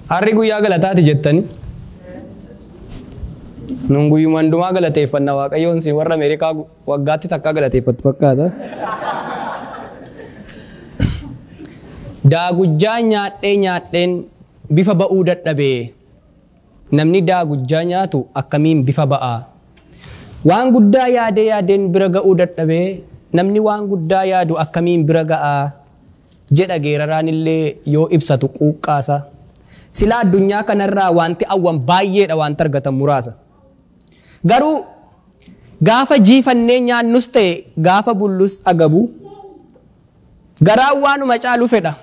Harri guyyaa galataati jettani. Nun guyyuma hundumaa galateeffanna waaqayyoon isin warra Ameerikaa gu- waggaatti takkaa galateeffattu fakkaata. Daagujjaa nyaadhee nyaadheen bifa ba'uu dadhabee Namni daagujjaa nyaatu akkamiin bifa ba'a? Waan guddaa yaadee yaadeen bira ga'uu dadhabee namni waan guddaa yaadu akkamiin bira ga'a? jedha geeraraan illee yoo ibsatu quuqqaasa. Silaa addunyaa kanarraa waanti awwan baay'eedha waanti argatan muraasa. Garuu gaafa jiifannee nyaannus ta'e gaafa bullus agabu garaan waanuma caalu fedha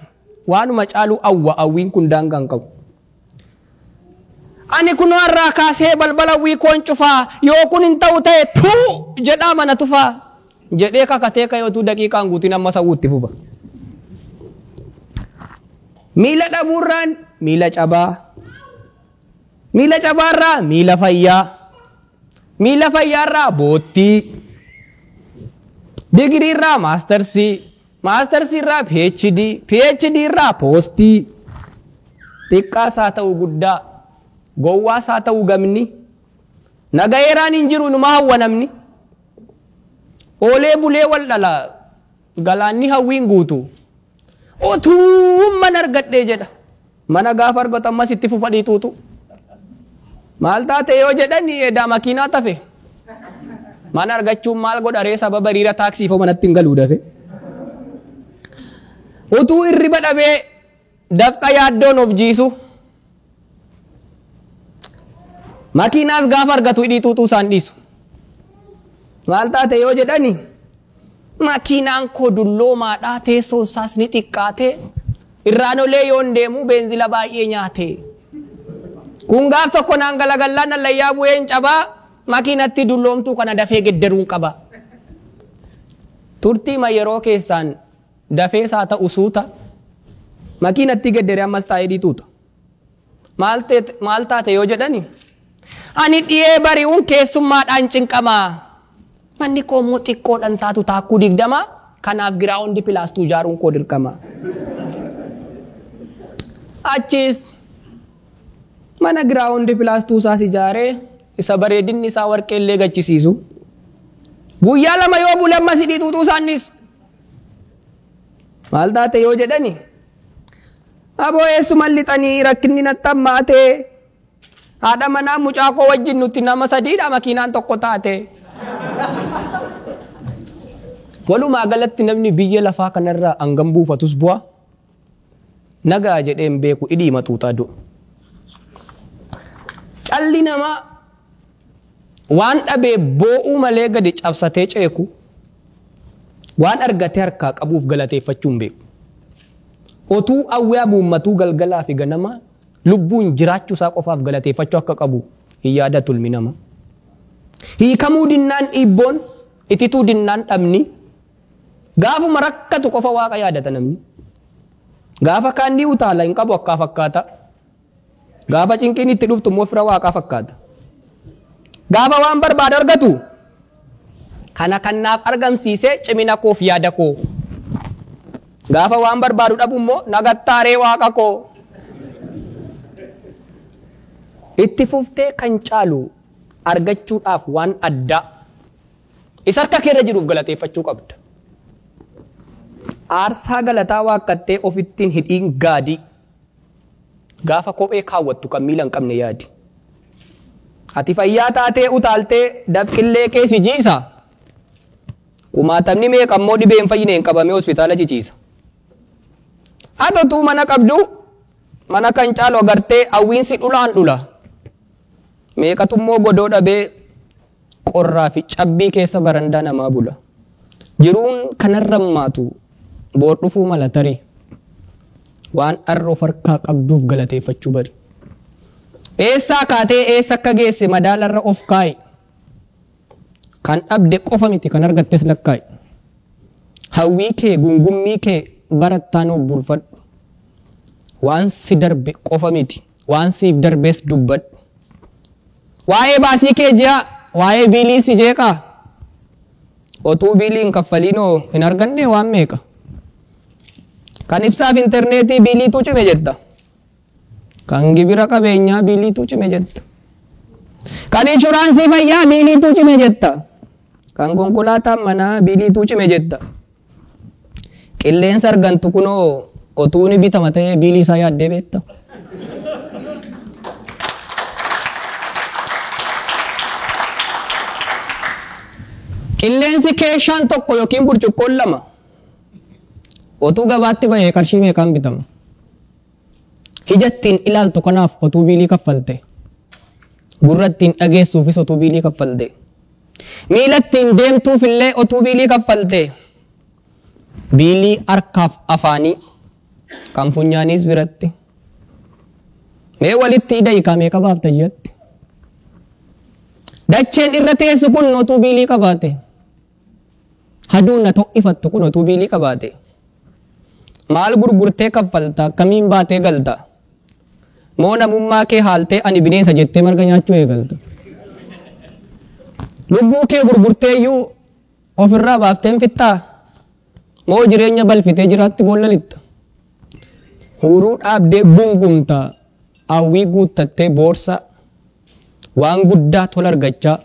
waanuma caalu awwa awwiin kun daangaa hin qabu. Ani kunoo har'aa kaasee balbala wii koon cufaa yoo kun hin ta'u ta'e tuu jedhaa mana tufaa jedhee kakatee ka'ee utuu daqiiqaan guutiin amma ta'uu itti fufa. Miila dhabuurraan miila cabaa miila cabaarraa miila fayyaa miila fayyaarraa boottii digiriirraa maastarsii Maastarsii irraa PhD, PhD irraa poostii. Xiqqaas haa ta'u guddaa, gowwaas haa ta'u gamni. Nagayeeraan hin jiru inuma hawwa namni. Oolee bulee wal dhala galaanni hawwiin guutu. Otuumman argadhee jedha. Mana gaafa argatu ammas itti fufa dhiituutu. Maal taate yoo jedhan edaa makiinaa tafe. Mana argachuun maal godha ree sababa hiriira taaksii foo manatti hin galuu dafe. Utuu irriba dhabee dafqa yaaddoon of jiisu. Makiinaas gaafa argatu hidhiituutu isaan dhiisu. Maal taate yoo jedhani Makiinaan koo dulloomaadha, teessoon isaas ni xiqqaate. Irraan olee yoon deemu beenzila baay'ee nyaate. Kun gaaf tokko naan galagallaan hallayyaa bu'een cabaa makiinatti dulloomtuu kana dafee geddaruun qaba. Turtiima yeroo keessaan dafees haa ta'u suuta makiinatti geddaree ammas taa'ee dhiituuta. Maal teet- maal taate yoo jedhani ani dhiyee bari'uun keessummaadhaan cinqama. Manni koo immoo xiqqoodhaan taatu taakkuu digdama kanaaf giraawundi pilaastuu ijaaruun koo dirqama. Achiis mana giraawundi pilaastuu isaas ijaaree isa bareedinni isaa warqee illee gachisiisu. Guyyaa lama yoo bule ammas hidhii xuuxuu isaannis. Maal taate yoo jedhani Aboo eessuman lixanii rakkinni natti hammaate. Haadha manaa mucaa koo wajjin nuti nama sadiidha makiinaan tokko taate. Walumaa galatti namni biyya lafaa kanarraa hangam buufatus bu'a. Nagaa jedheen beeku idii maxuuxaa du'a. Dhalli namaa Waan dhabee boo'uu malee gadi cabsatee ceekuu, waan argatee harkaa qabuuf galateeffachuu hin beeku. Otuu awwee amuummatuu galgalaa fi ganamaa lubbuun jiraachuu isaa qofaaf galateeffachuu akka qabu hin yaadatu ilmi namaa. Hiikamuu dinnaan dhiibboon, itituu dinnaan dhabni, gaafuma rakkatu qofa waaqa yaadata namni. Gaafa kaan ni utaala hin qabu akkaa fakkaata. Gaafa cinqiin itti dhuftu immoo fira waaqaa fakkaata. Gaafa waan barbaadu argatu kana kan naaf argamsiise cimina koof yaada koo. Gaafa waan barbaadu dhabu immoo nagattaaree waaqa koo. Itti fuftee kan caalu argachuudhaaf waan addaa isa harka keerra jiruuf galateeffachuu qabda. Aarsaa galataa waaqqattee ofittiin hidhiin gaadii. Gaafa kophee kaawwattu kan miila hin qabne yaadi. Ati fayyaa taatee utaaltee dafqillee kee si jiisa. Kumaatamni meeqa immoo dhibee hin fayyineen qabamee hospitaala ciciisa. Ati utuu mana qabdu mana kan caalu agartee hawwiinsi dhulaan dhula. Meeqatu immoo godoo dhabee Qorraa fi cabbii keessa barandaa namaa bula. Jiruun kan har'ammaatu boor dhufuu mala tarii. Waan har'a of harkaa qabduuf galateeffachuu bari. Eessaa kaatee eessa akka geesse madaalarra of kaa'i. Kan dhabde qofa miti kan argattes lakkaa'i. Hawwii kee gungummii kee barattaan obbuulfadhu. Waan si darbe qofa miti. Waan siif darbes dubbadhu. Waa'ee baasii kee je'aa, waa'ee biilii si jeeqaa? Otuu biilii hin kaffaliinoo hin argannee waan meeqa? Kan ibsaaf interneetii biiliituu cime jetta. Kan gibira qabeenyaa biiliituu cime jetta. Kan inshuraansii fayyaa biiliituu cime jetta. Kan konkolaataan manaa biiliituu cime jetta. Qilleensa argantu kunoo otuu ni bitama ta'ee biilii isaa yaaddee beekta. Qilleensi keeshaan tokko yookiin burcuqqoon lama otuu gabaatti bahee qarshii meeqaan bitama? Ijattiin ilaaltu kanaaf otuu biilii kaffalte. Gurrattiin dhageessuufis otuu biilii kaffalte. Miilattiin deemtuuf illee otuu biilii kaffalte. Biilii harkaaf afaanii kan funyaaniis biratti. Mee walitti idayi kaa meeqa baafta ji'atti. Dacheen irra teessu kun otuu biilii qabaate. Hadoon na to'ifattu kun otuu biilii qabaate. Maal gurgurtee kaffalta akkamiin baatee galta. Moo namummaa kee haaltee ani bineensa jettee marga nyaachuu eegalta. Lubbuu kee gurgurteeyyuu ofirraa baafteen fixxaa. Moo jireenya balfitee jiraatti boolla lixxa. Huuruu dhaabdee gungumta hawwii guuttattee boorsaa. Waan guddaa tola argachaa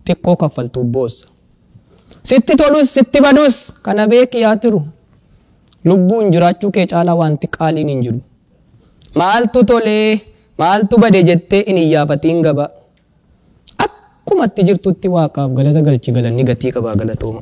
xiqqoo kaffaltuuf boossa. Sitti tolus sitti badus kana beeki yaa tiru. Lubbuun jiraachuu kee caalaa waanti qaaliin hin jiru. Maaltu tolee maaltu bade jettee hin iyyaafatiin gabaa. Akkuma itti jirtutti waaqaaf galata galchi galanni gatii qabaa galatooma.